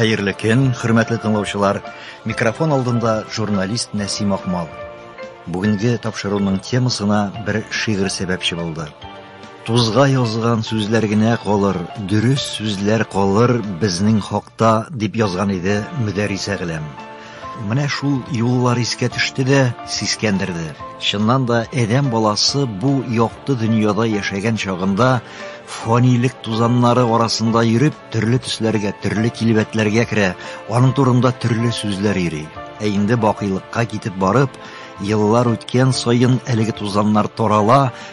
Хәерле көн, хөрмәтле тыңлаучылар. Микрофон алдында журналист Нәсим Акмал. Бүгенге тапшыруның темасына бер шигырь сәбәпче булды. Тузга язган сүзләр генә калыр, дөрес сүзләр калыр безнең хакта, дип язган иде Мөдәрисә Геләм. Менә шул юллар искә төште дә, сискәндерде. Чыннан да, адәм баласы бу якты дөньяда яшәгән чагында фанилек тузаннары арасында йөреп, төрле төсләргә, төрле килбәтләргә керә, аның турында төрле сүзләр йөри. Ә инде бакыйлыкка китеп барып, еллар үткән саен әлеге тузаннар тарала,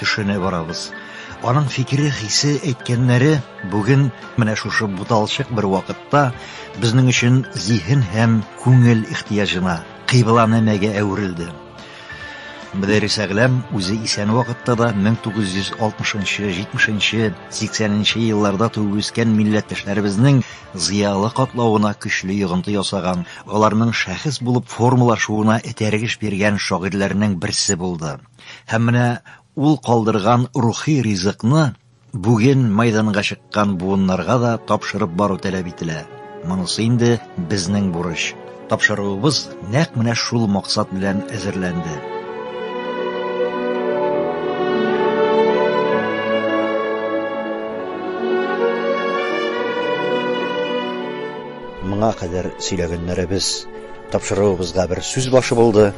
Төшенә барабыз. Аның фикере, хисе, әйткәннәре бүген менә шушы буталчык бер вакытта безнең өчен зиһен һәм күңел ихтияҗына, кыйбла нәмәгә әверелде. Мөдәррис Әгләм үзе исән вакытта да 1960-70-80 елларда туып үскән милләттәшләребезнең зыялы катлавына көчле йогынты ясаган, аларның шәхес булып формалашуына этәргеч биргән шагыйрьләрнең берсе булды. Һәм менә ул калдырган рухи ризыкны бүген майданга чыккан буыннарга да тапшырып бару таләп ителә. Монысы инде безнең бурыч. Тапшыруыбыз нәкъ менә шул максат белән әзерләнде. Моңа кадәр сөйләгәннәребез Тапшыруыбызга бер сүз башы булды.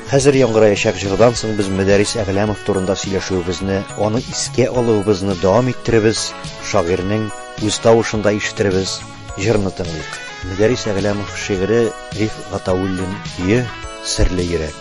Хәзер яңгыраячак җырдан соң без Мөдәрис Әгъләмов турында сөйләшүебезне, аны искә алуыбызны дәвам иттеребез, шагыйрьнең үз тавышында ишетербез, җырны тыңлыйк. Мөдәрис Әгъләмов шигыре, Риф Гатауллин көе, Серле йөрәк.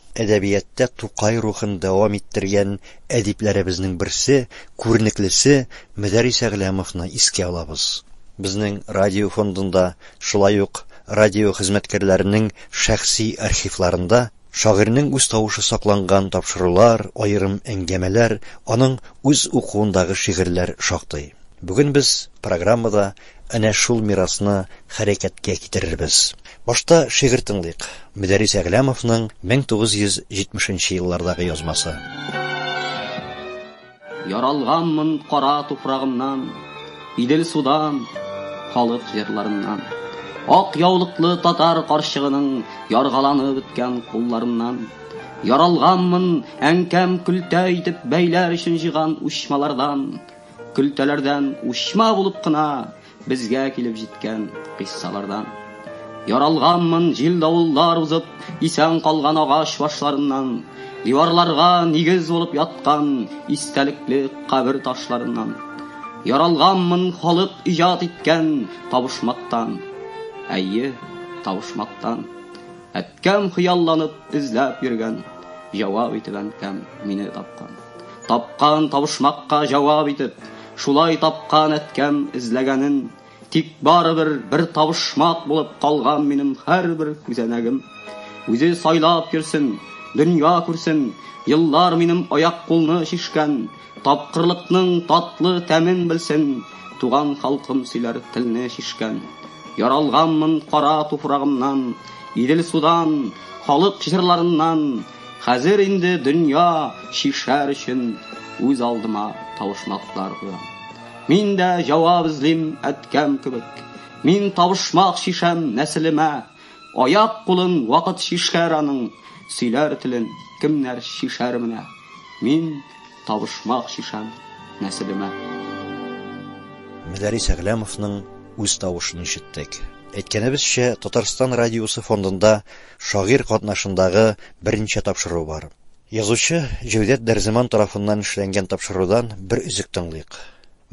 Әдәбияттә Тукай рухын дәвам иттергән әдипләребезнең берсе, күренеклесе Мөдәрис Әгъләмовны искә алабыз. Безнең радио фондында, шулай ук радио хезмәткәрләренең шәхси архивларында шагыйрьнең үз тавышы сакланган тапшырулар, аерым әңгәмәләр, аның үз укуындагы шигырьләр шактый. Бүген без программада әнә шул мирасны хәрәкәткә китерербез. Башта шигырь тыңлыйк, Мөдәррис Әгъләмовның 1970 нче еллардагы язмасы. Яралганмын кара туфрагымнан, Идел судан, халык җырларыннан. Ак яулыклы татар карчыгының Яргаланып беткән кулларыннан. Яралганмын әнкәм көлтә итеп Бәйләр өчен җыган учмалардан. Көлтәләрдән учма булып кына Безгә килеп җиткән кыйссалардан. Яралганмын, җил-давыллар узып, исән калган агач башларыннан, диварларга нигез булып яткан истәлекле кабер ташларыннан. Яралганмын халык иҗат иткән табышмактан. Әйе, табышмактан. Әткәм хыялланып эзләп йөргән, Җавап итеп әнкәм мине тапкан. Тапкан табышмакка җавап итеп, Шулай тапкан әткәм эзләгәнен. Тик барыбер бер табышмак булып калган минем һәрбер күзәнәгем. Үзе сайлап йөрсен, дөнья күрсен, Еллар минем аяк-кулны чишкән. Тапкырлыкның татлы тәмен белсен, Туган халкым сөйләр телне чишкән. Яралганмын кара туфрагымнан, Идел судан, халык җырларыннан. Хәзер инде дөнья чишәр өчен Үз алдыма табышмаклар куям. Мин дә җавап эзлим әткәм кебек, Мин табышмак чишәм нәселемә. Аяк-кулын вакыт чишәр аның, Сөйләр телен кемнәр чишәр менә. Мин. Табышмак чишәм нәселемә. Мөдәрис Әгъләмовның үз тавышын ишеттек. Әйткәнебезчә, Татарстан радиосы фондында шагыйрь катнашындагы берничә тапшыру бар. Язучы Җәүдәт Дәрземан тарафыннан эшләнгән тапшырудан бер өзек тыңлыйк.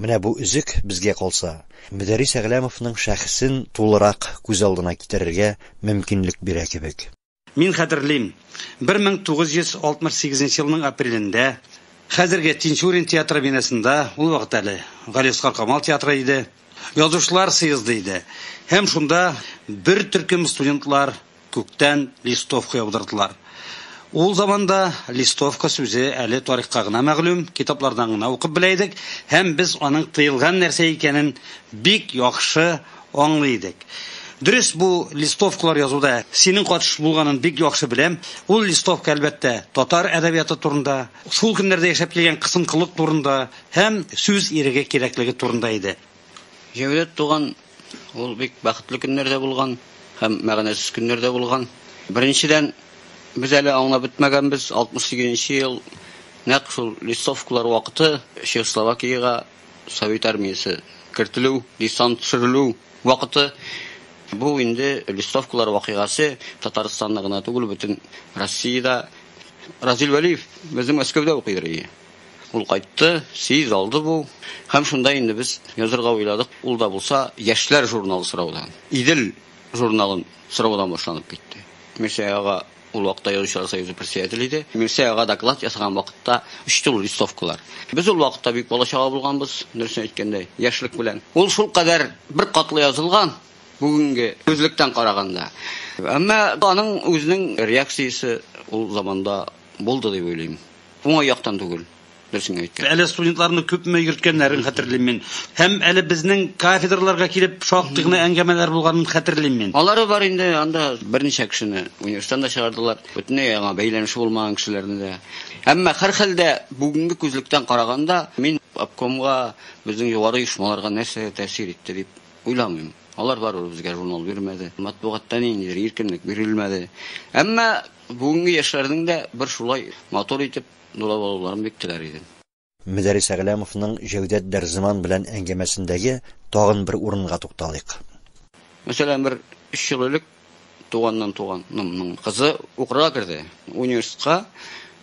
Менә бу өзек, безгә калса, Мөдәрис Әгъләмовның шәхесен тулырак күз алдына китерергә мөмкинлек бирә кебек. Мин хәтерлим, 1968 нче елның апрелендә, хәзерге Тинчурин театры бинасында, ул вакыт әле Галиәсгар Камал театры иде, Язучылар съезды иде. Һәм шунда бер төркем студентлар күктән листовка яудырдылар. Ул заманда листовка сүзе әле тарихка гына мәгълүм, китаплардан гына укып белә идек, һәм без аның тыелган нәрсә икәнен бик яхшы Аңлый идек. Дөрес, бу листовкалар язуда синең катыш булганын бик яхшы беләм. Ул листовка, әлбәттә, татар әдәбияты турында, шул көннәрдә яшәп килгән кысынкылык турында һәм сүз иреге кирәклеге турында иде. Җәүдәт туган, ул бик бәхетле көннәрдә булган һәм мәгънәсез көннәрдә булган. Беренчедән, без әле аңлап бетмәгәнбез, 68 нче ел, нәкъ шул листовкалар вакыты Чехословакиягә Совет армиясе кертелү, десант төшерелү вакыты. Бу инде листовкалар вакыйгасы Татарстанда гына түгел, бөтен Россиядә. Разил Вәлиев безнең Мәскәүдә укыйдыр иде. Ул кайтты, сез алды бу. Һәм шунда инде без язырга уйладык. Ул да булса яшьләр журналы сораудан, Идел журналын сораудан башланып китте. Мирсәяга Ул вакытта Язучылар союзы председателе иде. Мирсәй ага доклад ясаган вакытта үсте ул листовкалар. Без ул вакытта бик балачага булганбыз, дөресен әйткәндә, яшьлек белән. Ул шул кадәр бер катлы язылган, бүгенге күзлектән караганда. Әмма аның үзенең реакциясе ул заманда булды дип уйлыйм. Уңай яктан түгел. Дөресен әйтте. Әле студентларны күпме йөрткәннәрен хәтерлим мин. Һәм әле безнең кафедраларга килеп шактый гына әңгәмәләр булганын хәтерлим мин. Алары бар инде, анда берничә кешене университеттан да чыгардылар. Бөтенләй яңа бәйләнеше булмаган кешеләрне дә. Әмма һәр хәлдә бүгенге күзлектән караганда мин обкомга, безнең югары оешмаларга нәрсә тәэсир итте дип уйламыйм. Алар барыбер безгә журнал бирмәде. Матбугатта ниндидер иркенлек бирелмәде. Әмма бүгенге яшьләрнең дә бер шулай матур итеп Дулап алуларын бик теләр идем. Мөдәррис Әгъләмовның Җәүдәт Дәрзаман белән әңгәмәсендәге тагын бер урынга тукталыйк. Мәсәлән, бер өч ел элек туганнан туганымның кызы укырга керде, университетка,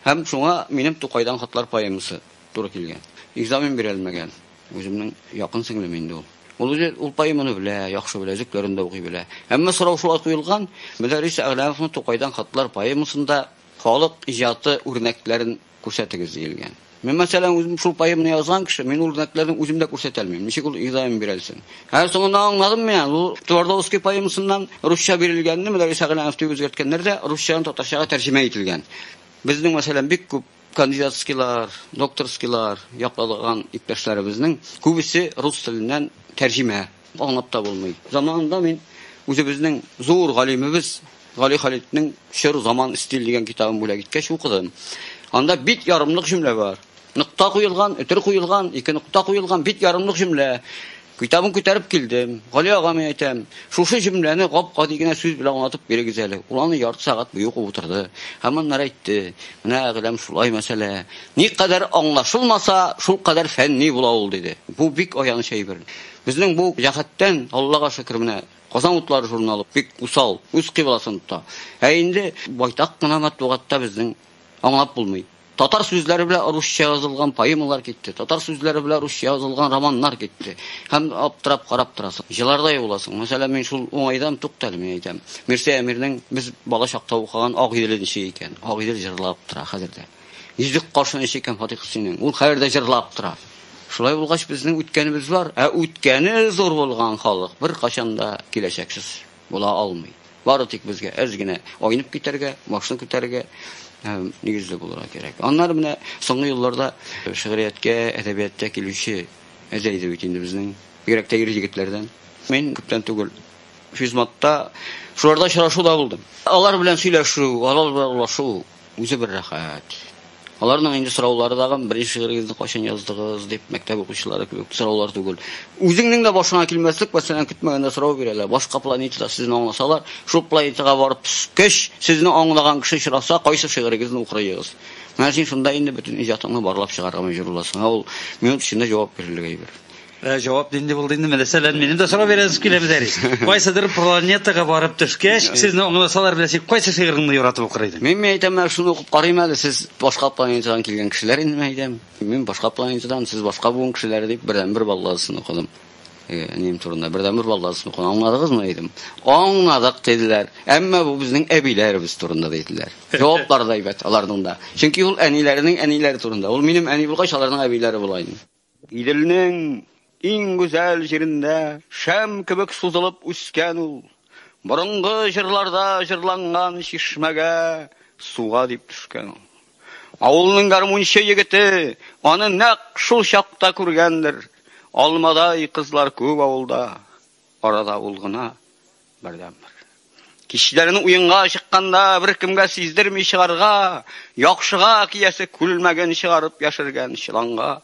һәм шуңа минем Тукайдан хатлар поэмасы туры килгән. Экзамен бирә алмәгән. Үземнең якын сеңлем инде ул. Ул үзе ул поэманы белә, яхшы белә, өзекләрен дә укый белә. Әмма сорау шулай куелган, Мөдәррис Әгъләмовның Тукайдан хатлар поэмасында Халык иҗаты үрнәкләрен күрсәтегез диелгән. Мин, мәсәлән, үзем шул поэманы язган кеше, мин үрнәкләрне үзем дә күрсәтә алмыйм. Ничек ул изаем бирәлсен? Һәм соңында аңладым мин, ул Твардовский поэмасыннан русча бирелгәнне Мөдәррис Әгъләнов дип үзгәрткәннәр дә, русчадан татарчага тәрҗемә ителгән. Безнең, мәсәлән, бик күп кандидатскийлар, докторскийлар яклаган иптәшләребезнең күбесе рус теленнән тәрҗемә Аңлап та булмый. Заманында мин үзебезнең зур галимебез Гали Халитнең Чор заман стиль дигән китабын бүләк иткәч укыдым. Анда бит ярымлык җөмлә бар. Нокта куелган, өтер куелган, ике нокта куелган бит ярымлык җөмлә. Китабын күтәреп килдем. Гали агам әйтәм, шушы җөмләне гап-гади генә сүз белән аңлатып бирегез әле. Ул аны ярты сәгать буе укып утырды. Һәм аннары әйтте, менә әгъләм шулай мәсьәлә. Никадәр аңлашылмаса, шул кадәр фәнни була ул, диде. Бу бик аяныч әйбер. Безнең бу җәһәттән, Аллага шөкер, менә Казан утлары журналы бик усал, үз кыйбласын тота. Ә инде байтак кына матбугатта безнең аңлап булмый. Татар сүзләре белән русча язылган поэмалар китте, татар сүзләре белән русча язылган романнар китте. Һәм аптырап карап торасың. Җылардай буласың. Мәсәлән, мин шул уңайдан туктале мин әйтәм. Мирсә Әмирнең без бала чакта укыган Ак җиленче икән. Ак җил җырлап тора хәзер дә. Йөзек кашын эчик һәм Фатих Хөсәйнең. Ул хәер дә җырлап тора. Шулай булгач, безнең үткәнебез бар, ә үткәне зур булган халык бер кашан да киләчәксез була алмый. Бары тик безгә әз генә айнып китәргә, башны күтәрергә һәм нигезле булырга кирәк. Аннары менә соңгы елларда шигърияткә, әдәбияткә килүче әзәйде бит инде безнең, бигрәк тә ир егетләрдән. Мин күптән түгел физматта шуларда очрашу да булдым. Алар белән сөйләшү, алар белән улашу Үзе бер рәхәт. Аларның инде сораулары тагын беренче шигырегезне кайчан яздыгыз дип мәктәп укучылары кебек сораулар түгел. Үзеңнең дә башыңа килмәслек мәсәлән көтмәгәндә сорау бирәләр. Башка планетада сезне аңласалар, шул планетага барып төшкәч, сезне аңлаган кеше очраса, кайсы шигырегезне укырыгыз? Менә син шунда инде бөтен иҗатыңны барлап чыгарга мәҗбүр буласың. Ә ул минут эчендә җавап бирерлек әйбер. Ә җавап нинди булды инде? Мәсәлән, минем дә сорау бирәсез килә бизәри. Кайсыдыр планетага барып төшкәч, сезне аңласалар беләсез, кайсы шигыреңне яратып укыр идең? Мин әйтәм, менә шуны укып карыйм әле, сез башка планетадан килгән кешеләр инде мин әйтәм. Мин башка планетадан, сез башка буын кешеләре дип бердәнбер балладысын укыдым. Әнием турында бердәнбер балладысын укыдым. Аңладыгызмы дидем. Аңладык диделәр. Әмма бу безнең әбиләребез турында диделәр. Җаваплары да әйбәт аларның да. Чөнки ул әниләренең әниләре турында. Ул минем әни булгач, аларның әбиләре була инде. Иделнең иң гүзәл җирендә шәм кебек сузылып үскән ул. Борынгы җырларда җырланган чишмәгә суга дип төшкән ул. Авылның гармунчы егете аны нәкъ шул чакта күргәндер. Алмадай кызлар күп авылда, арада ул гына. Бердәнбер. Кичләрен уенга чыкканда беркемгә сиздерми чыгарга, яхшыга киясе күлмәген чыгарып яшергән чыланга.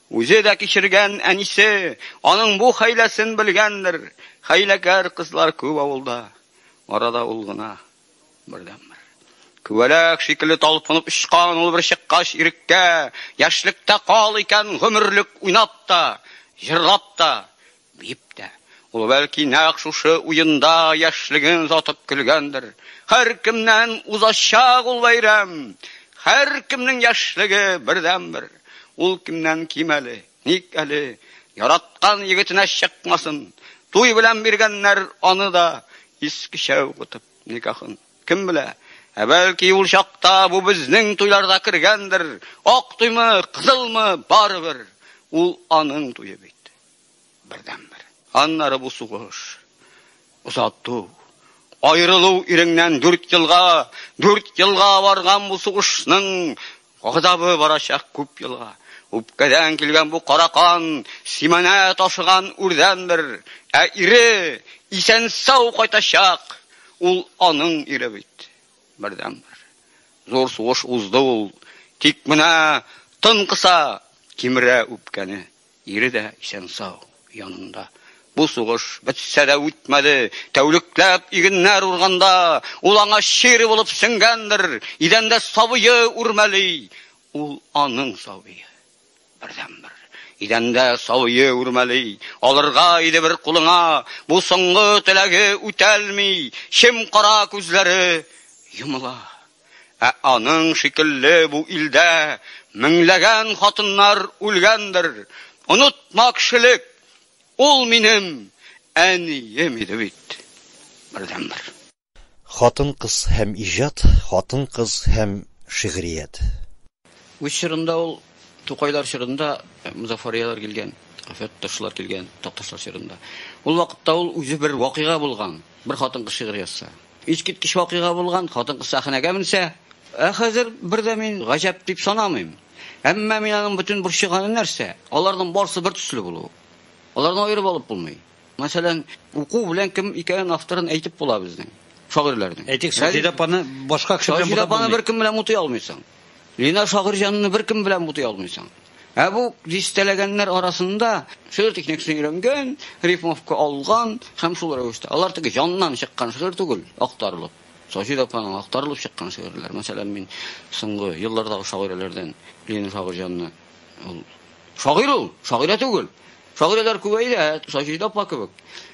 Үзе дә кичергән әнисе, аның бу хәйләсен белгәндер. Хәйләкәр кызлар күп авылда. Арада ул гына бердәнбер. Күбәләк шикелле талпынып очкан ул бер чыккач иреккә, яшьлектә кал икән гомерлек уйнап та, җырлап та, Дип тә. Ул, бәлки, нәкъ шушы уенда яшьлеген озатып көлгәндер. Һәркемнән узачак ул бәйрәм! Һәркемнең яшьлеге бердәнбер! Ул кемнән ким әле? Ник әле яраткан егетенә чыкмасын? Туй белән биргәннәр аны да искечә укытып никахын. Кем белә, ә бәлки ул чакта бу безнең туйларда кергәндер, ак туймы, кызылмы, барыбер, ул аның туе бит. бердәнбер. Аннары бу сугыш, озату, аерылу иреңнән дүрт елга, дүрт елга барган бу сугышның газабы барачак күп елга. Үпкәдән килгән бу кара кан, симәнә ташыган үрдән бер, ә ире исән-сау кайтачак, ул аның ире бит, бердәнбер. Зур сугыш узды ул, тик менә тын кыса, кимерә үпкәне. Ире дә исән-сау, янында. Бу сугыш бетсә дә үтмәде. Тәүлекләп игеннәр урганда, ул аңа чир булып сеңгәндер. Идәндә сабые үрмәли. Ул аның сабые. Бердәнбер. Идәндә сабые үрмәли. Алырга иде бер кулыңа. Бу соңгы теләге үтәлми. Чем-кара күзләре йомыла. Ә аның шикелле бу илдә меңләгән хатыннар үлгәндер. Онытма кешелек, ул минем әнием иде бит. Бердәнбер. Хатын-кыз һәм иҗат, хатын-кыз һәм шигърият. Үз чорында ул Тукайлар чорында Мозафарияләр килгән, Фәтташлар килгән, Такташлар чорында. Ул вакытта ул үзе бер вакыйга булган, бер хатын-кыз шигырь язса. Искиткеч вакыйга булган, хатын-кыз сәхнәгә менсә, ә хәзер бер дә мин гаҗәп дип санамыйм. Әмма мин аның бөтен борчыганы нәрсә? Аларның барысы бер төсле булуы. Аларны аерып алып булмый. Мәсәлән, уку белән кем икәнен авторын әйтеп була безнең шагыйрьләрнең. Әйтик, Саҗидә апаны башка кеше белән бутап булмый. Саҗидә апаны беркем белән бутый алмыйсың. Линар Шагыйрҗанны беркем белән бутый алмыйсың. Ә бу дистәләгәннәр арасында шигырь техникасын өйрәнгән, рифмовка алган һәм шул рәвештә. Алар теге җаннан чыккан шигырь түгел, актарылып. Саҗид апаның актарылып чыккан шигырьләр. Мәсәлән, мин соңгы еллардагы шагыйрәләрдән Ленин шагыйрьҗанны ул шагыйрь ул, шагыйрә түгел. Шагыйрәләр күбәйде, ә Саҗид апа кебек,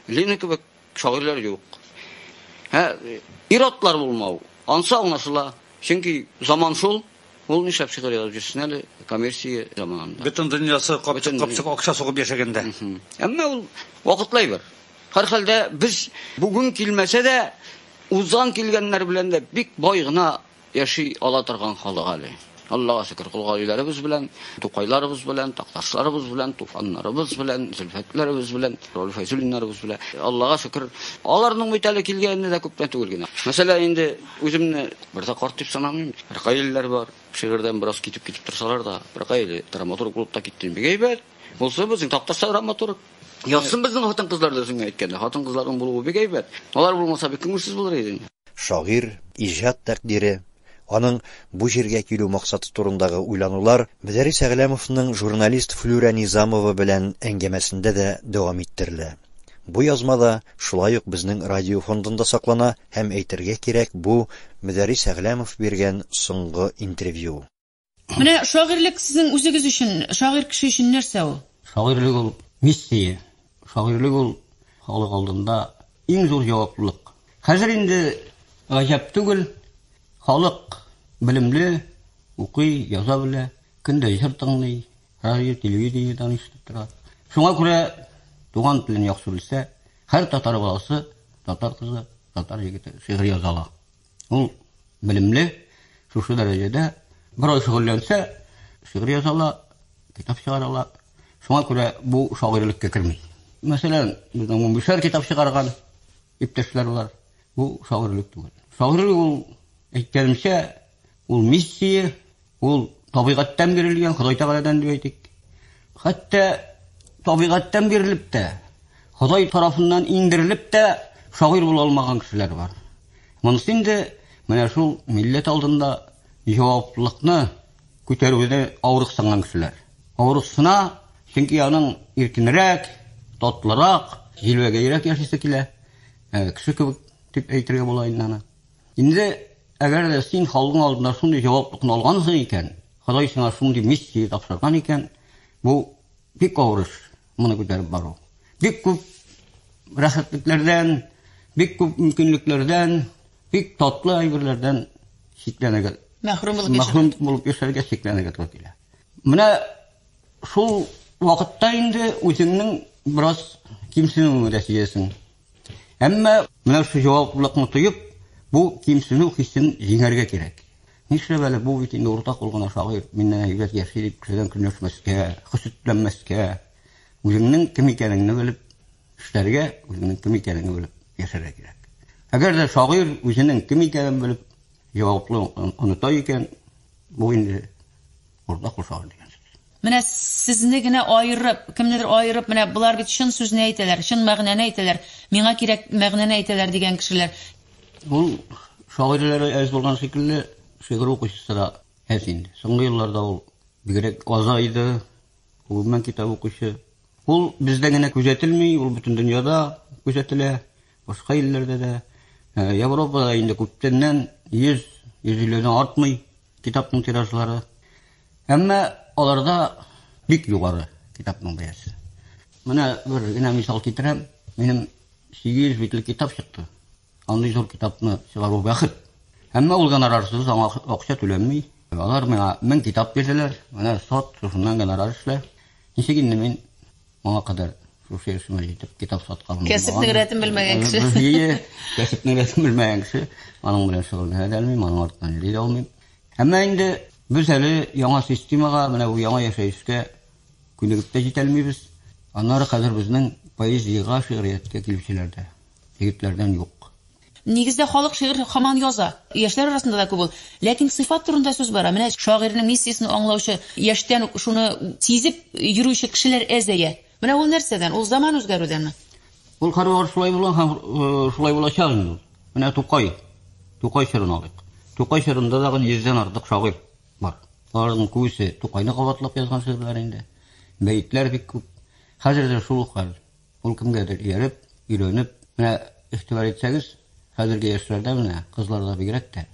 Лина кебек Шагыйрьләр юк. Һә, ир-атлар булмау, ансы аңлашыла. Чөнки заман шул, ул нишләп шигырь язып йөрсен әле коммерция заманында. Бөтен дөньясы капчык-капчык акча сугып яшәгәндә. Әмма ул вакытлы әйбер. Һәрхәлдә, без бүген килмәсә дә, узган килгәннәр белән дә бик бай гына Яши ала торган халык әле. Аллага шөкер, кол гаиләләребез белән, тукайларыбыз белән, такташларыбыз белән, туфаннарыбыз белән, зөлфәтләребез белән, Роль Файзуллиннарыбыз белән. Аллага шөкер, аларның бит әле килгәненә дә күптән түгел генә. Мәсәлән, инде үземне бер дә карт дип санамыйм. Бер гаиләләр бар. Шигырьдән бераз китеп китеп торсалар да, бер гаилә драматург булып та киттем. Бик әйбәт. Булса безнең такташта драматург. Ятсын безнең хатын-кызлар да үзеңә әйткәндә. Хатын-кызларның булуы бик әйбәт. Алар булмаса бик күңелсез булыр идең. Шагыйрь иҗат тәкъдире, аның бу җиргә килү максаты турындагы уйланулар Мөдәррис Әгъләмовның журналист Флүрә Низамова белән әңгәмәсендә дә дәвам иттерелә. Бу язма да шулай ук безнең радио фондында саклана һәм, әйтергә кирәк, бу, Мөдәррис Әгъләмов биргән соңгы интервью. Менә шагыйрьлек сезнең үзегез өчен, шагыйрь кеше өчен нәрсә ул? Шагыйрьлек ул миссия. Шагыйрьлек ул халык алдында иң зур җаваплылык. Хәзер инде гаҗәп түгел, халык белемле, укый, яза белә, көн дә җыр тыңлый, радио, телевидениедән ишетеп тора. Шуңа күрә туган телен яхшы белсә, һәр татар баласы, татар кызы, татар егете шигырь яза ала. Ул белемле, шушы дәрәҗәдә берәү шөгыльләнсә, шигырь яза ала, китап чыгара ала. Шуңа күрә бу шагыйрьлеккә керми. Мәсәлән, безнең Мумбишәр китап чыгарган иптәшләр бар. Бу шагыйрьлек түгел. Шагыйрьлек ул, әйткәнемчә, Ул миссия, ул табигатьтән бирелгән, Ходай Тәгаләдән дип әйтик. Хәтта табигатьтән бирелеп тә, Ходай тарафыннан иңдерелеп тә шагыйрь була алмаган кешеләр бар. Монысы инде менә шул милләт алдында җаваплылыкны күтәрүдә авырыксынган кешеләр. Авырыксына, чөнки аның иркенрәк, татлырак, җилбәгәйрәк яшисе килә. Ә, кеше кебек дип әйтергә була инде аны. Инде әгәр дә син халкың алдында шундый җаваплыкны алгансың икән, Ходай сиңа шундый миссия тапшырган икән, бу бик авыр эш, моны күтәреп бару. Бик күп рәхәтлекләрдән, бик күп мөмкинлекләрдән, бик татлы әйберләрдән чикләнергә мәхрүм булып мәхрүм булып яшәргә чикләнергә туры килә. Менә шул вакытта инде үзеңнең бераз кимсенүеңне дә сизәсең. Әмма менә шул җаваплылыкны тоеп, бу кимсенү хисен җиңәргә кирәк. Нишләп әле бу бит инде урта кул гына шагыйрь, миннән әйбәт яши дип кешедән көнләшмәскә, хөсетләнмәскә, үзеңнең кем икәнеңне белеп эшләргә, үзеңнең кем икәнеңне белеп яшәргә кирәк. Әгәр дә шагыйрь үзенең кем икәнен белеп җаваплы оныта икән, бу инде Урда кушагы дигән сүз. Менә сезне генә аерып, кемнедер аерып, менә болар бит чын сүзне әйтәләр, чын мәгънәне әйтәләр, миңа кирәк мәгънәне әйтәләр дигән кешеләр. Ул шагыйрьләре әз булган шикелле, шигырь укучысы да әз инде. Соңгы елларда ул бигрәк азайды, гомумән китап укучы. Ул бездә генә күзәтелми, ул бөтен дөньяда күзәтелә, башка илләрдә дә. Европада инде күптәннән 100 150 артмый. китапның тиражлары. Әмма аларда бик югары китапның бәясе. Менә бер генә мисал китерәм. Минем 800 битлек китап чыкты. Андый зур китапны чыгару бәхет. Әмма ул гонорарсыз аңа акча түләнми. Алар миңа 1000 китап бирделәр. Менә сот, шуннан гонорар эшлә. Ничек инде мин Моңа кадәр шушы яшемә җитеп китап сатканым булмаган. Кәсепнең рәтен белмәгән кеше. Әйе, кәсепнең рәтен белмәгән кеше. Аның белән шөгыльләнә дә алмыйм, аның артыннан йөри дә алмыйм. Әмма инде без әле яңа системага, менә бу яңа яшәешкә күнегеп тә җитә алмыйбыз. Аннары хәзер безнең поэзиягә, шигърияткә килүчеләр дә егетләрдән юк. Нигездә халык шигырь хаман яза. Яшьләр арасында да күп ул. Ләкин сыйфат турында сүз бара. Менә шагыйрьнең миссиясен аңлаучы, яшьтән үк шуны сизеп йөрүче кешеләр әзәя. Менә ул нәрсәдән? Ул заман үзгәрүдәнме? Ул һәрвакыт шулай булган һәм шулай булачак инде ул. Менә Тукай. Тукай чорын алыйк. Тукай чорында тагын йөздән артык шагыйрь бар. Аларның күбесе Тукайны кабатлап язган шигырьләр инде. Бәетләр бик күп. Хәзер дә шул ук хәл. Ул кемгәдер ияреп, өйрәнеп, менә игътибар итсәгез, хәзерге яшьләрдә менә, кызларда бигрәк тә,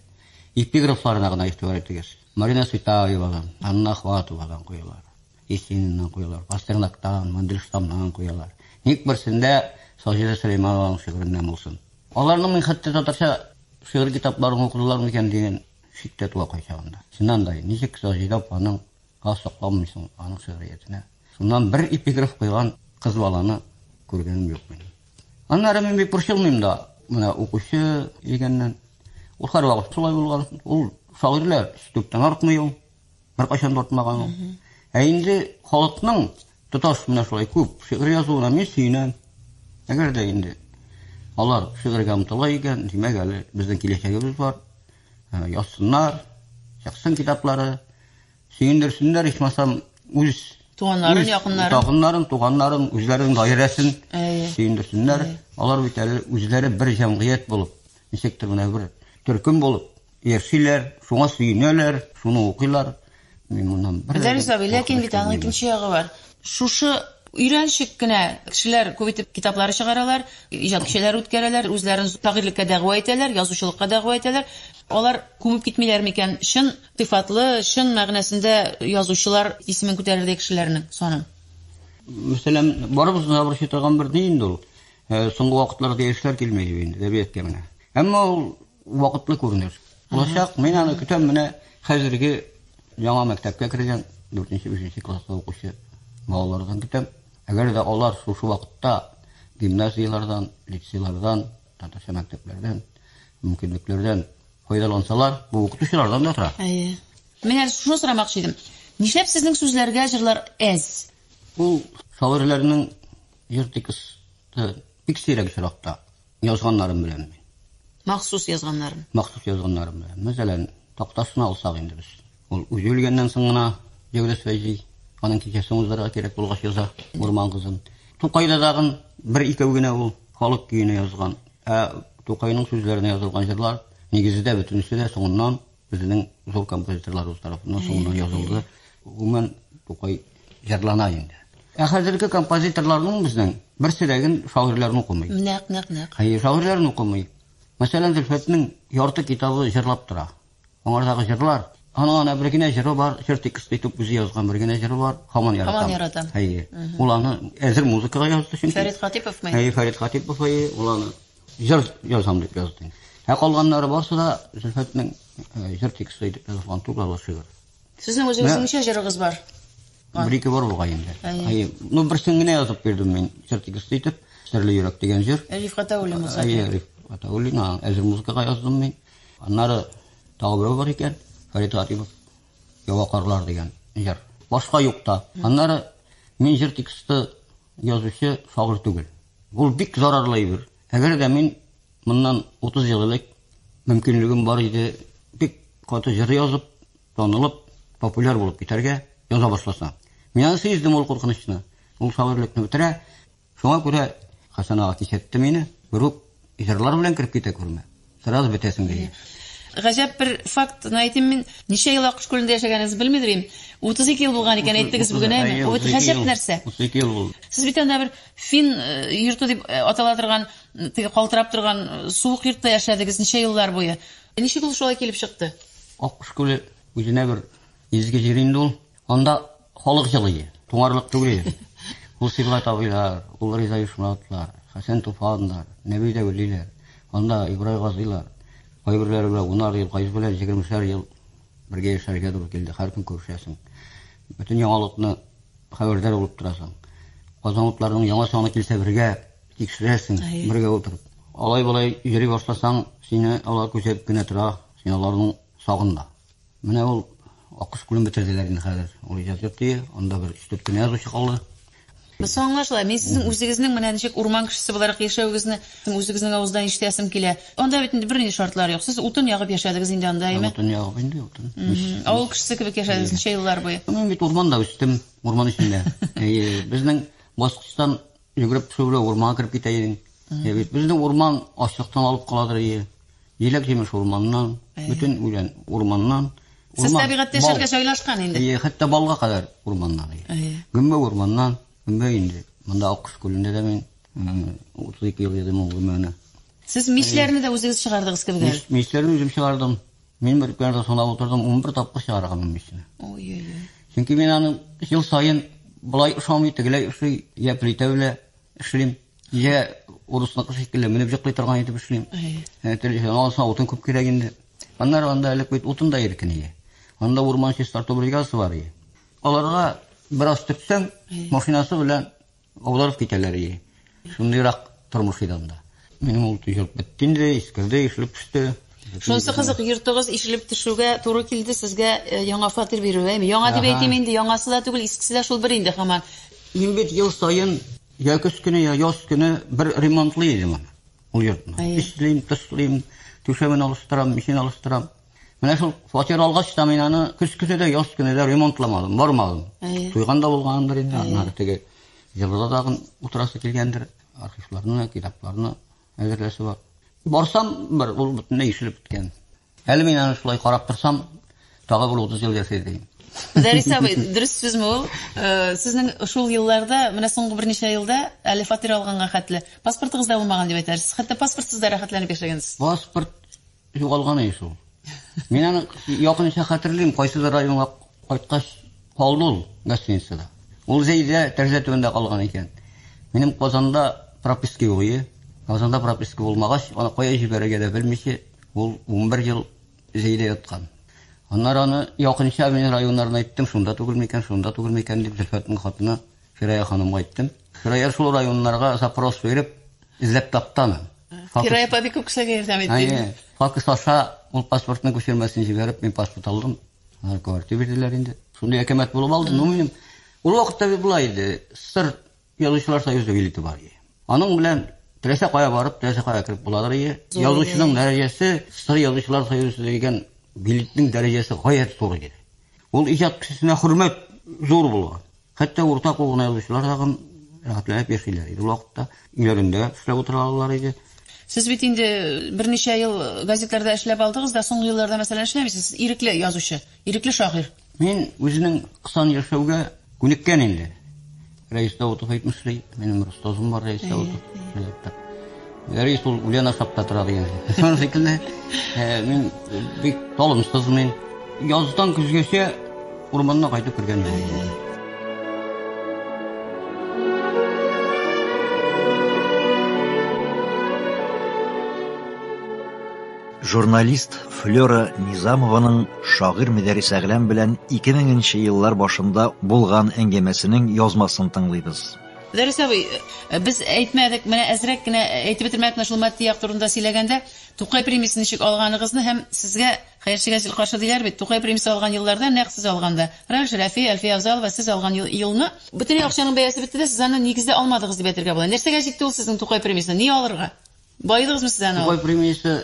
эпиграфларына гына игътибар итегез. Марина Цветаевадан, Анна Ахватовадан куялар, Есениннан куялар, Пастернактан, Мандельштамнан куялар. Ник берсендә Саҗидә Сөләйманованың шигыреннән булсын? Аларның мин хәтта татарча шигырь китапларын укыдылар микән дигән шик тә туа кайчагында. Чыннан да, ничек Саҗидә апаның хас сокланмый соң аның шигъриятенә? Шуннан бер эпиграф куйган кыз баланы күргәнем юк минем. Аннары мин бик борчылмыйм да, менә укучы дигәннән. Ул һәрвакыт шулай булган. Ул шагыйрьләр сүтүктән артмый ул. Беркайчан да артмаган ул. Ә инде халыкның тоташ менә шулай күп шигырь язуына мин сөенәм. Әгәр дә инде алар шигырьгә омтыла икән, димәк әле безнең киләчәгебез бар. Язсыннар, чыксын китаплары. Сөендерсеннәр, ичмасам, үз туганнарын, якыннарын, якыннарын, туганнарын, үзләренең гаиләсен сөендерсеннәр. Алар бит әле үзләре бер җәмгыять булып, ничектер менә бер төркем булып яшиләр, шуңа сөенәләр, шуны укыйлар. Мин моннан бер Дәрис абый, ләкин бит аның икенче ягы бар. Шушы өйрәнчек кенә кешеләр күп итеп китаплар чыгаралар, иҗат кичәләре үткәрәләр, үзләрен шагыйрьлеккә дәгъва итәләр, язучылыкка дәгъва итәләр. Алар күмеп китмиләр микән? Чын Сыйфатлы, чын мәгънәсендә язучылар исемен күтәрердәй кешеләрнең саны. Мәсәлән, барыбызны да борчый торган бер ни инде ул. Соңгы вакытларда яшьләр килми дип инде әдәбияткә менә. Әмма ул вакытлы күренеш. Булачак, мин аны көтәм, менә хәзерге яңа мәктәпкә кергән 4-5 класста укучы балалардан көтәм. Әгәр дә алар шушы вакытта гимназияләрдән, лицейлардан, татарча мәктәпләрдән, мөмкинлекләрдән Файдалансалар, бу укытучылардан да тора. Әйе. Мин әле шуны сорамакчы идем. Нишләп сезнең сүзләргә җырлар әз? Ул шагыйрьләрнең җыр тексты бик сирәк очракта язганнарым белән мин. Махсус язганнарым. Махсус язганнарым белән. Мәсәлән, тактасына алсак инде без. Ул үзе үлгәннән соң гына Җәүдәс Фәйзи аның кичәсен уздырырга кирәк булгач яза Урман кызын. Тукайда тагын бер-икәү генә ул халык көенә язган Ә Тукайның сүзләренә язылган җырлар нигездә бөтенесе дә соңыннан безнең зур композиторларыбыз тарафыннан соңыннан язылды. Гомумән Тукай җырлана инде. Ә хәзерге композиторларның безнең берсе дә гел шагыйрьләрне укымый. Нәкъ, нәкъ, нәкъ. Әйе, шагыйрьләрне укымый. Мәсәлән, Зөлфәтнең ярты китабы җырлап тора. Аңардагы җырлар. Аның ана бер генә җыры бар, җыр тексты итеп үзе язган бер генә җыры бар. Хаман яратам. Хаман яратам. Әйе. Ул аны әзер музыкага язды чөнки. Фәрит Хатиповмы? Әйе, Фәрит Хатипов әйе, ул аны җыр язам дип язды. Ә калганнары барсы да Зөлфәтнең э, җыр тексты итеп язган тугалы шигырь. Сезнең үзегез ничә җырыгыз бар? Бер ике бар бугай инде. Әйе. Ну берсен генә язып бирдем мин җыр тексты итеп. Серле йөрәк дигән җыр. Рифката Улимуза. Әйе, Рифката Улина. Әзер музыкага яздым мин. Аннары тагы берәү бар икән, Фәрит Хатипов, Ява карлар дигән җыр. Башка юк та. Аннары мин җыр тексты язучы шагыйрь түгел. Ул бик зарарлы әйбер. Әгәр дә мин моннан 30 ел элек мөмкинлегем бар иде, бик каты җыр язып, танылып, популяр булып китәргә яза башласам. Мин аны сиздем ул куркынычны. Ул шагыйрьлекне бетерә. Шуңа күрә Хәсән ага кисәтте мине, групп җырлар белән кереп китә күрмә. Сразу бетәсең диде. Гаҗәп бер факт әйтим мин. Ничә ел Аккош күлендә яшәгәнегезне белмидер идем. 32 ел булган икән, әйттегез бүген, әйме? Әйе, Бу бит 32 гаҗәп ел. нәрсә. 32 ел булды. Сез бит анда бер фин э, йорты дип э, атала торган, э, теге калтырап торган э, суык йортта яшәдегез ничә еллар буе. Ничек ул шулай килеп чыкты? Аккош күле үзенә бер изге җир инде ул. Анда халык җылые, туңарлык түгел. Ул Сибгат абыйлар, ул Риза Ишмуратлар, Хәсән Туфаннар, Нәби Дәвлиләр, анда Ибрай Газыйлар, кайберләре белән унар ел, кайсы белән егермешәр ел бергә яшәргә туры килде. Һәр көн күрешәсең. Бөтен яңалыкны хәбәрдар булып торасың. Казанлыкларның яңа саны килсә бергә тикшерәсең, бергә утырып. Алай-болай йөри башласаң, сине алар күзәтеп кенә тора, син аларның сагында. Менә ул Аккош күлен бетерделәр инде хәзер. Ул иҗат йорт өе, анда бер өч-дүрт кенә язучы калды. Без аңлашыла. Мин сезнең үзегезнең менә ничек урман кешесе буларак яшәвегезне үзегезнең авыздан ишетәсем килә. Анда бит инде бернинди шартлар юк. Сез утын ягып яшәдегез инде анда, әйме? Утын ягып инде, утын. Авыл кешесе кебек яшәдегез ничә еллар буе? Мин бит урманда үстем, урман эчендә. Әйе, безнең баскычтан Йөгереп төшү белән урманга кереп китә идең. Ә бит безне урман ачыктан алып каладыр ие. Җиләк-җимеш урманнан, бөтен үлән урманнан. Сез табигатьтә яшәргә җайлашкан инде. Ие, хәтта балга кадәр урманнан. Гөмбә урманнан, гөмбә инде. Монда Аккош күлендә дә мин 32 ел йөрдем ул гөмбәне. Сез мичләрне дә үзегез чыгардыгыз кебек әле. Мичләрне үзем чыгардым. Мин бер көнне сынап утырдым, унбер тапкыр чыгарган мичне. Ой-ой-ой. Чөнки мин аны ел саен болай ошамый, тегеләй ошый, я плитә белә эшлим, я урысныкы шикелле менеп җыклый торган итеп эшлим. Ә телешен алса утын күп кирәк инде. Аннары анда элек бит утын да иркен ие. Анда урман чистарту бригадасы бар ие. Аларга бераз төртсәң, машинасы белән Аударып китәләр ие. Шундыйрак тормыш иде анда. Минем ул төзелеп бетте инде, искерде, ишелеп төште. Шунысы кызык, йортыгыз ишелеп төшүгә туры килде сезгә э, яңа фатир бирүгә. Әйме, Яңа дип Ага. әйтим инде, яңасы да түгел, искесе дә шул бер инде хаман. Мин бит ел саен я көз көне, я яз көне бер ремонтлый идем аны. Ул йортны. Әйе. Эшлим, тышлыйм, түшәмен алыштырам, мичен алыштырам. Менә шул фатир алгач та мин аны көз көне дә, яз көне дә ремонтламадым, бармадым. Туйган да булгандыр инде, аннары теге җылыда тагын утырасы килгәндер, архивларны, китапларны әзерләсе бар. Барсам, бер ул бөтенләй ишелеп беткән. Әле мин аны шулай карап торсам, тагы бер 30 ел яшәр идем. Дәрис абый, дөрес сүзме ул? Э, сезнең шул елларда, менә соңгы берничә елда әле фатир алганга хәтле паспортыгыз да булмаган дип әйтәсез. Хәтта паспортсыз да рәхәтләнеп яшәгәнсез. Паспорт Югалган иде шул. Мин аны якынча хәтерлим, кайсыдыр районга кайткач калды ул гостиницада. Ул Зәйдә тәрәзә төбендә калган икән. Минем Казанда прописка юк иде. Казанда прописка булмагач, аны кая җибәрергә дә белмичә, ул 11 ел Зәйдә яткан. Аннары аны якынча мин районнарына әйттем, шунда түгел микән, шунда түгел микән дип Зөлфәтнең хатыны Фирая ханымга әйттем. Фирая шул районнарга запрос биреп, эзләп тапты аны. Фирая апа бик күп кешегә ярдәм итте. Факс аша ул паспортның күчермәсен җибәреп, мин паспорт алдым. Алар квартира бирделәр инде. Шундый әкәмәт булып алды, ну минем. Ул вакытта бит була иде. Сыр язучылар союзы билеты бар иде. Аның белән теләсә кая барып, теләсә кая кереп буладыр иде. Язучының дәрәҗәсе сыр язучылар союзы дигән билетның дәрәҗәсе гаять зур иде. Ул иҗат кешесенә хөрмәт зур булган. Хәтта урта кул гына язучылар тагын рәхәтләнеп яшиләр иде ул вакытта. Өйләрендә эшләп утыра алалар иде. Сез бит инде берничә ел газетларда эшләп алдыгыз да, соңгы елларда, мәсәлән, эшләмисез. Сез ирекле язучы, ирекле шагыйрь. Мин үзенең кысан яшәүгә күнеккән инде. Рәис Даутов әйтмешли, минем Ростозым бар Рәис Даутов. Рәис ул үлән ашап та тора дигән. Шуның шикелле мин бик талымсызмын. Яздан көзгәчә урманна кайтып кергән идем. Журналист Флера Низамованың шагыйр Мөдәрис Әгләм белән 2000 нче еллар башында булган әңгәмәсенең язмасын тыңлыйбыз. Дәрес абый, без әйтмәдек, менә әзрәк кенә әйтеп бетермәдек менә шул матди як турында сөйләгәндә, Тукай премиясен ничек алганыгызны һәм сезгә хәерчегә җил каршы диләр бит, Тукай премиясе алган елларда нәкъ сез алганда, Ральф Шәрәфи, Әлфия Авзалова, сез алган елны, бөтенләй акчаның бәясе бетте дә, сез аны нигездә алмадыгыз дип әйтергә була. Нәрсәгә җитте ул сезнең Тукай премиясенә? Ни алырга? Баедыгызмы сез аны алып? Тукай премиясе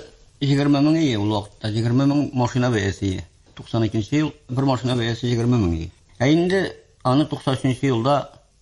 егерме мең ие ул вакытта, егерме мең машина бәясе ие. Туксан икенче ел бер машина бәясе егерме мең ие. Ә инде аны туксан өченче елда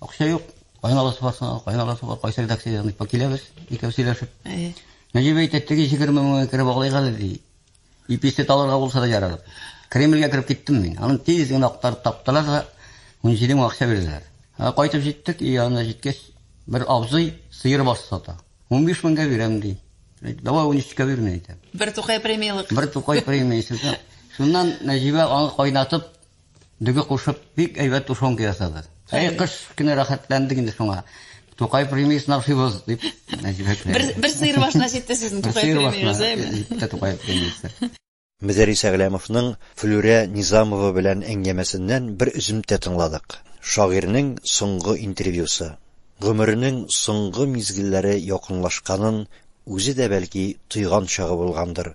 Акча юк. Кайналасы бар соң, кайналасы бар. Кайсы редакциядән дип киләбез, икәү сөйләшеп. Әйе. Нәҗиб әйтә, теге 20 меңгә кереп алыйк әле ди. Иписте таларга булса да ярар. Кремльгә кереп киттем мин. Аны тиз генә актарып таптылар да 17 мең акча бирделәр. Ә кайтып җиттек, өй янына җиткәч, бер абзый сыер баш сата. 15 меңгә бирәм ди. Давай 13-кә бирмә әйтә. Бер тукай премиялык. Бер тукай премиясе. Шуннан Нәҗибә аны кайнатып, Дөге кушып, бик әйбәт тушенка ясады. Әй, кыш кенә рәхәтләндек инде шуңа. Тукай премияс насыйбыз дип. Бер бер сыйыр башына җитте сезнең Тукай премияс, әйме? Тукай премиясе. Мөдәррис Әгъләмовның Флүрә Низамова белән әңгәмәсеннән бер өземтә тыңладык. Шагыйрьнең соңгы интервьюсы. Гомеренең соңгы мизгелләре якынлашканын үзе дә, бәлки, тойган чагы булгандыр,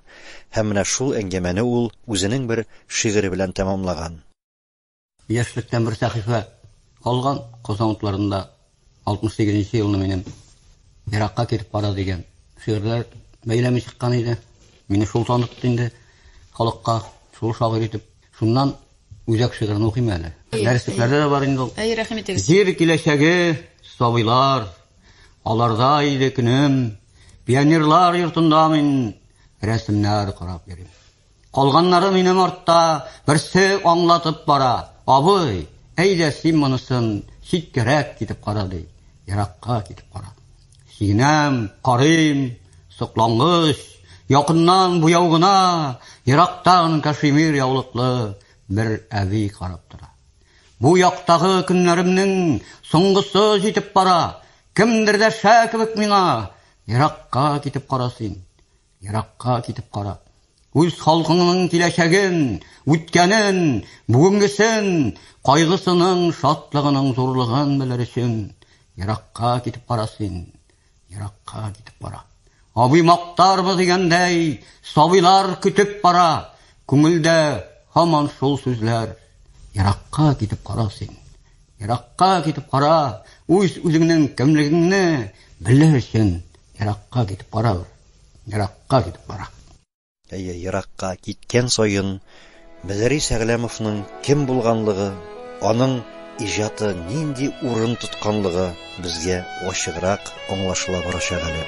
һәм менә шул әңгәмәне ул үзенең бер шигыре белән тәмамлаган. Яшьлектән бер сәхифә калган, Казан утларында 68 нче елны минем Еракка китеп кара дигән шигырьләр бәйләме чыккан иде. Мине шул танытты инде халыкка, шул шагыйрь итеп. Шуннан үзәк шигырен укыйм әле. Дәреслектәрдә дә бар инде ул. Әйе, рәхим итегез. Җир киләчәге, сабыйлар, Аларда иде көнем, пионерлар йортында мин рәсемнәр карап йөрим. Калганнары минем артта берсе аңлатып бара. Абый, әйдә син монысын читкәрәк китеп кара ди. Еракка китеп кара. Синәм, карыйм, соклангыч, якыннан буяу гына, ерактан кашемир яулыклы бер әби карап тора. Бу яктагы көннәремнең соңгысы җитеп бара. Кемдер дә шә кебек миңа еракка китеп кара син. Еракка китеп кара. Үз халкыңның киләчәген, үткәнен, бүгенгесен, кайгысының, шатлыгының зурлыгын белер өчен еракка китеп кара син. Еракка китеп бара. Абый мактарбыз дигәндәй, сабыйлар көтеп бара. Күңелдә һаман шул сүзләр. Еракка китеп кара син. Еракка китеп кара, үз үзеңнең кемлегеңне белер өчен еракка китеп кара. Еракка китеп кара. Әйе, еракка киткән саен Мөдәрис Әгъләмовның кем булганлыгы, аның иҗаты нинди урын тотканлыгы безгә ачыграк аңлашыла барачак әле.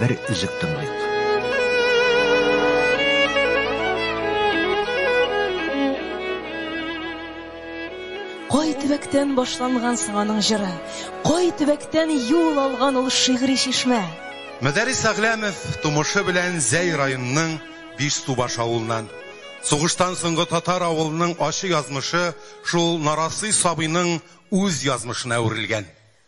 Бер үзек тыңлыйк. Кай төбәктән башланган соң аның җыры? Кай төбәктән юл алган ул шигъри чишмә? Мәдәрис Әгләмов тумышы белән Зәй районының Биш Субаш авылыннан. Сугыштан соңгы татар авылының ачы язмышы шул нарасый сабыйның үз язмышына әверелгән.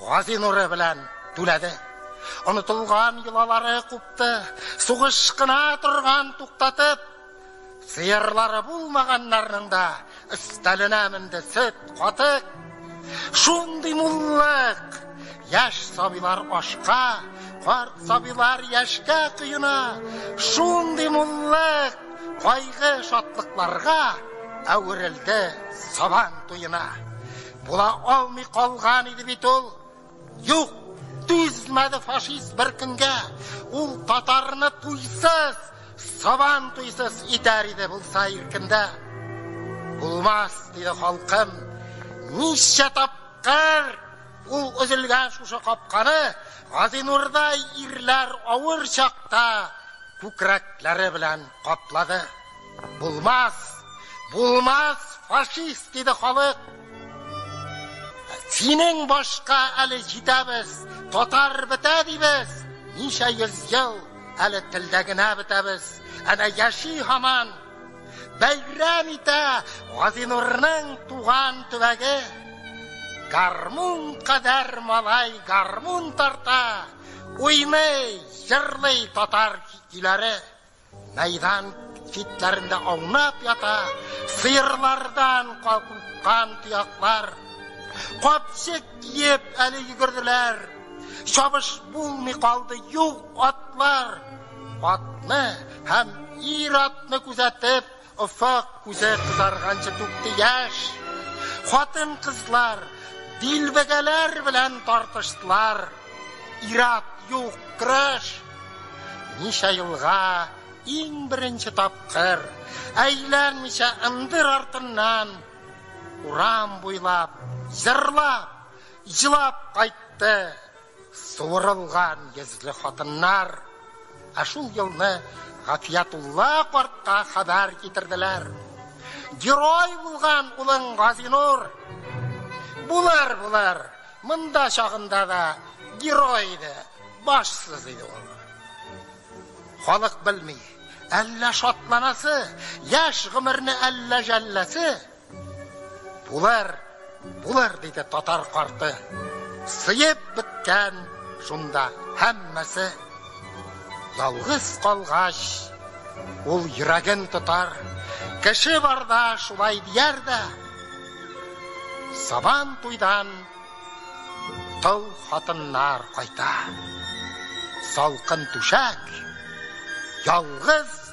Гази нуры белән түләде. Онытылган йолалары купты. Сугыш кына торган туктатып, сыерлары булмаганнарның да өстәленә менде сөт, катык. Шундый муллык! Яшь сабилар ашка, карт сабилар яшькә коена. Шундый муллык! Кайгы шатлыкларга әверелде Сабан туена. Була алмый калган иде бит ул. Юк, түзмәде фашист бер көнгә. Ул татарны туйсыз, сабан туйсыз итәр иде булса иркендә. Булмас, диде халкым. Ничә тапкыр ул өзелгән шушы капканы Газинурдай ирләр авыр чакта күкрәкләре белән каплады. Булмас! Булмас, фашист! диде халык. Синең башка әле җитәбез, татар бетә дибез, ничә йөз ел әле телдә генә бетәбез. Әнә яши һаман, бәйрәм итә Газинурның туган төбәге. Гармун кадәр малай гармун тарта, уйный, җырлый татар көйләре. Мәйдан читләрендә аунап ята сыерлардан калкыткан тояклар. Капчык киеп, әле йөгерделәр. Чабыш булмый калды, юк атлар. Атны һәм ир-атны күзәтеп, Офык күзе кызарганчы түкте яшь. Хатын-кызлар дилбегәләр белән тартыштылар. Ир-ат юк, көрәш! Ничә елга иң беренче тапкыр, әйләнмичә ындыр артыннан, урам буйлап җырлап, елап кайтты. Суырылган йөзле хатыннар. Ә шул елны Гафиятулла картка хәбәр китерделәр. Герой булган улың Газинур. Булыр, булыр, монда чагында да герой иде, башсыз иде ул. Халык белми, әллә шатланасы, яшь гомерне әллә җәлләсе. Булыр, булыр, диде татар карты. Сыеп беткән шунда һәммәсе. Ялгыз калгач, ул йөрәген тотар. Кеше барда шулай дияр дә. Сабан туйдан тол хатыннар кайта. Салкын түшәк, ялгыз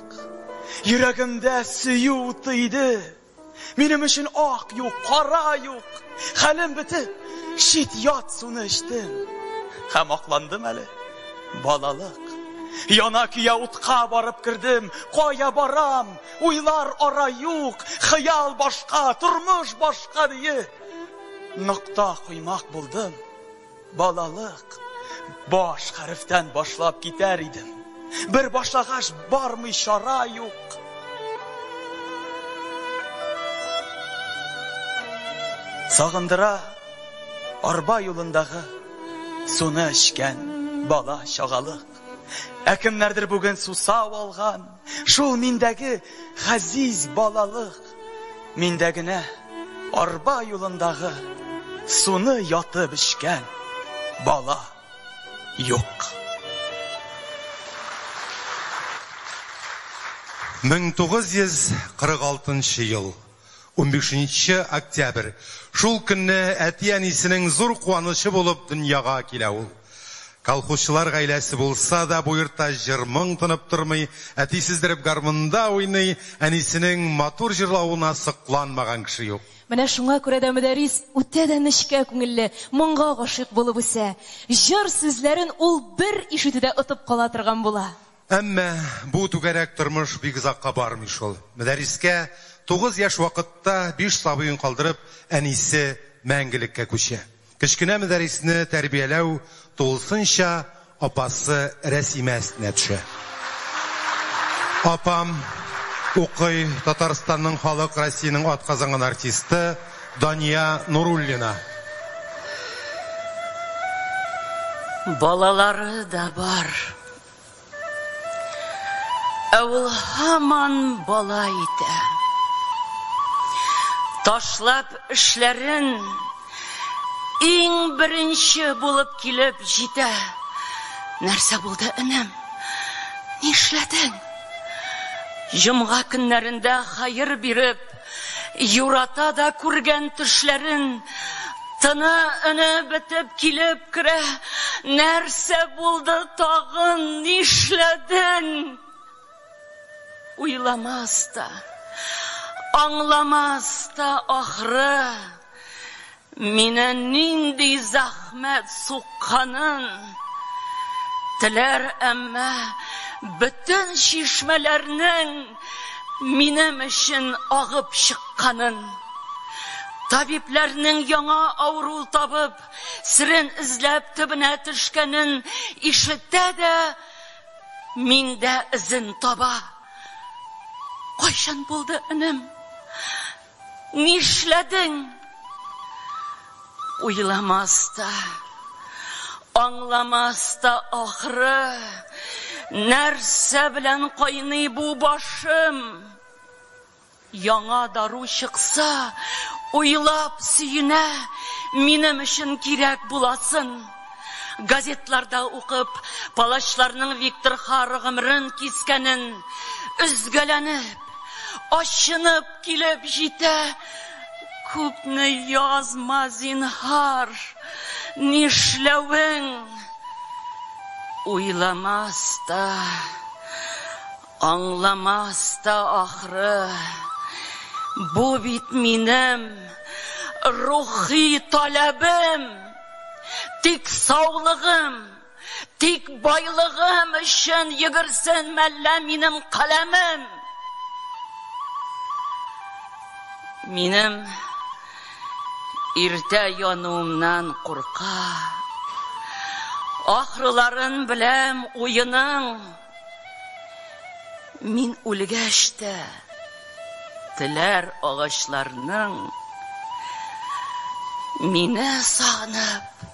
ачык. Йөрәгемдә сөю уты иде. Минем өчен ак юк, кара юк. Хәлем бетеп, чит ят суны эчтем. Һәм акландым әле. Балалык. Яна көя утка барып кердем. Кая барам? Уйлар ара юк. Хыял башка, тормыш башка дие. Нокта куймак булдым. Балалык баш хәрефтән башлап китәр идем. Бер башлагач бармый чара юк. Сагындыра арба юлындагы суны эчкән бала чагалык. Ә кемнәрдер бүген сусау алган, шул миндәге хәзиз балалык. Миндә генә арба юлындагы суны ятып эчкән бала юк. 1946 ел 15 октябрь шул көнне әти-әнисенең зур куанычы булып дөньяга килә ул. Колхозчылар гаиләсе булса да, бу йортта җыр-моң тынып тормый. Әти сиздереп гармунда уйный, әнисенең матур җырлавына сокланмаган кеше юк. Менә шуңа күрә дә Мөдәррис үтә дә нечкә күңелле, моңга гашыйк булып үсә. Җыр сүзләрен ул бер ишетүдә отып кала торган була. Әмма бу түгәрәк тормыш бик озакка бармый шул. Мөдәррискә тугыз яшь вакытта биш сабыен калдырып, әнисе мәңгелеккә күчә. Кечкенә Мөдәрисне тәрбияләү тулысынча апасы Рәсимә өстенә төшә. Апам укый, Татарстанның халык Россиянең атказанган артисты Дания Нуруллина. Балалары да бар. Ә ул һаман бала итә. Ташлап эшләрен, иң беренче булып килеп җитә. Нәрсә булды, энем? Нишләдең? Җомга көннәрендә хаер биреп, Юрата да күргән төшләрен Тыны өне бетеп килеп керә Нәрсә булды тагын нишләдең Уйламас та, аңламас та ахры. Мине нинди зәхмәт сукканын теләр, әмма бөтен чишмәләрнең минем өчен агып чыкканын, табибләрнең яңа авыру табып, серен эзләп төбенә төшкәнен ишетә дә, миндә эзен таба. Кайчан булды, энем? Нишләдең? Уйламас та, аңламас та ахры, нәрсә белән кайный бу башым? Яңа дару чыкса, уйлап сөенә, минем өчен кирәк буласын. Газетларда укып, палачларның Виктор Хара гомерен кискәнен, өзгәләнеп, ачынып, Килеп җитә, күпне язма, зинһар, нишләвең уйламас та, аңламас та ахры, бу бит минем рухи таләбем, тик саулыгым. Тик байлыгым өчен йөгерсен мәллә минем каләмем. Минем иртә януымнан курка. Ахрыларын беләм уеның. Мин үлгәч тә теләр агачларның мине сагынып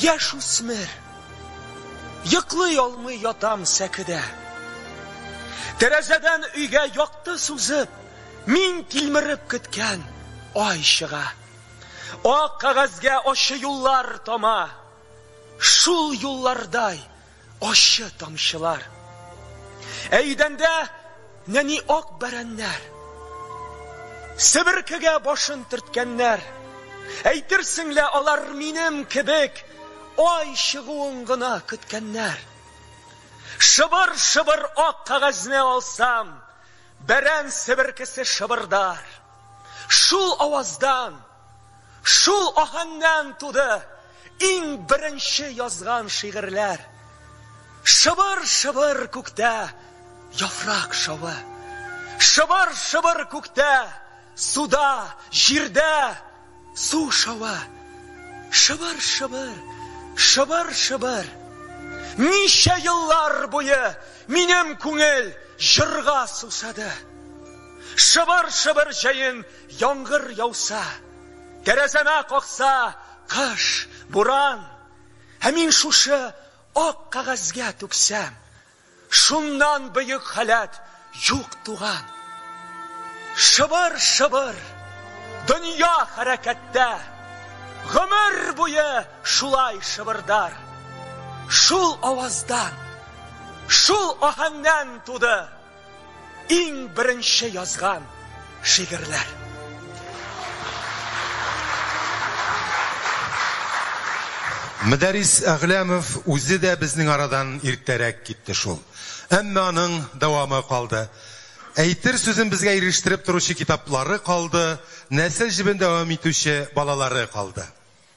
Яшүсмер. Йоклый алмый ятам сәкедә. Тәрәзәдән өйгә якты сузып, мин тилмереп көткән ай чыга. Ак кагазьгә ачы юллар тама. Шул юллардай Ачы тамчылар. Ә идәндә нәни ак бәрәннәр. Себеркегә башын төрткәннәр. Әйтерсең лә алар минем кебек ай чыгуын гына көткәннәр. Шыбыр-шыбыр ак кагазне алсам, бәрән себеркесе шыбырдар. Шул аваздан Шул аһәңнән туды иң беренче язган шигырьләр. Шыбыр-шыбыр күктә яфрак шавы. Шыбыр-шыбыр күктә, суда, җирдә су шавы. Шыбыр-шыбыр, шыбыр-шыбыр. Ничә еллар буе минем күңел җырга сусады. Шыбыр-шыбыр җәен. Яңгыр яуса, тәрәзәмә какса кыш, буран, һәм мин шушы ак кагазьгә түксәм, шуннан бөек халәт юк туган. Шыбыр-шыбыр, дөнья хәрәкәттә, гомер буе шулай шыбырдар. Шул аваздан, шул аһәңнән туды. Иң беренче язган шигырьләр. Мөдәрис Әгъләмов үзе дә безнең арадан иртәрәк китте шул. Әмма аның дәвамы калды. Әйтер сүзен безгә ирештереп торучы китаплары калды, нәсел җебен дәвам итүче балалары калды.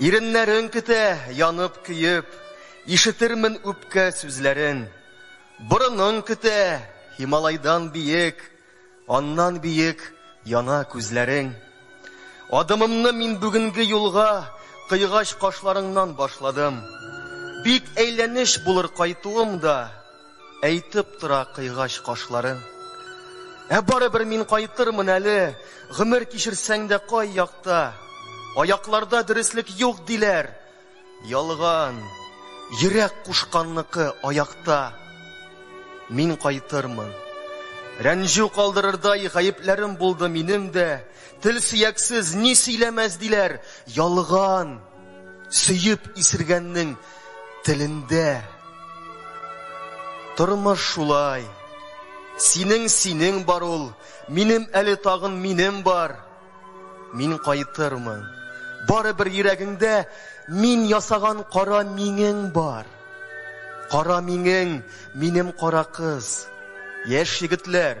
Иреннәрең көтә, янып, көеп, Ишетермен үпкә сүзләрен. Борының көтә, Һималайдан биек, Аннан биек яна күзләрең. Адымымны мин бүгенге юлга Кыйгач кашларыңнан башладым. Бик әйләнеч булыр кайтуым да, Әйтеп тора кыйгач кашларын. Ә барыбер мин кайтырмын әле, Гомер кичерсәң дә кай якта. Аякларда дөреслек юк диләр. Ялган, йөрәк кушканныкы аякта. Мин кайтырмын. Рәнҗү калдырырдай гаепләрем булды минем дә. Тел сөяксез, ни сөйләмәс диләр. Ялган. Сөеп исергәннең телендә. Тормыш шулай. Синең синең бар ул, минем әле тагын минем бар. Мин кайтырмын. Бары бер йөрәгеңдә мин ясаган кара миңең бар. Кара миңең, минем кара кыз. Яшь егетләр,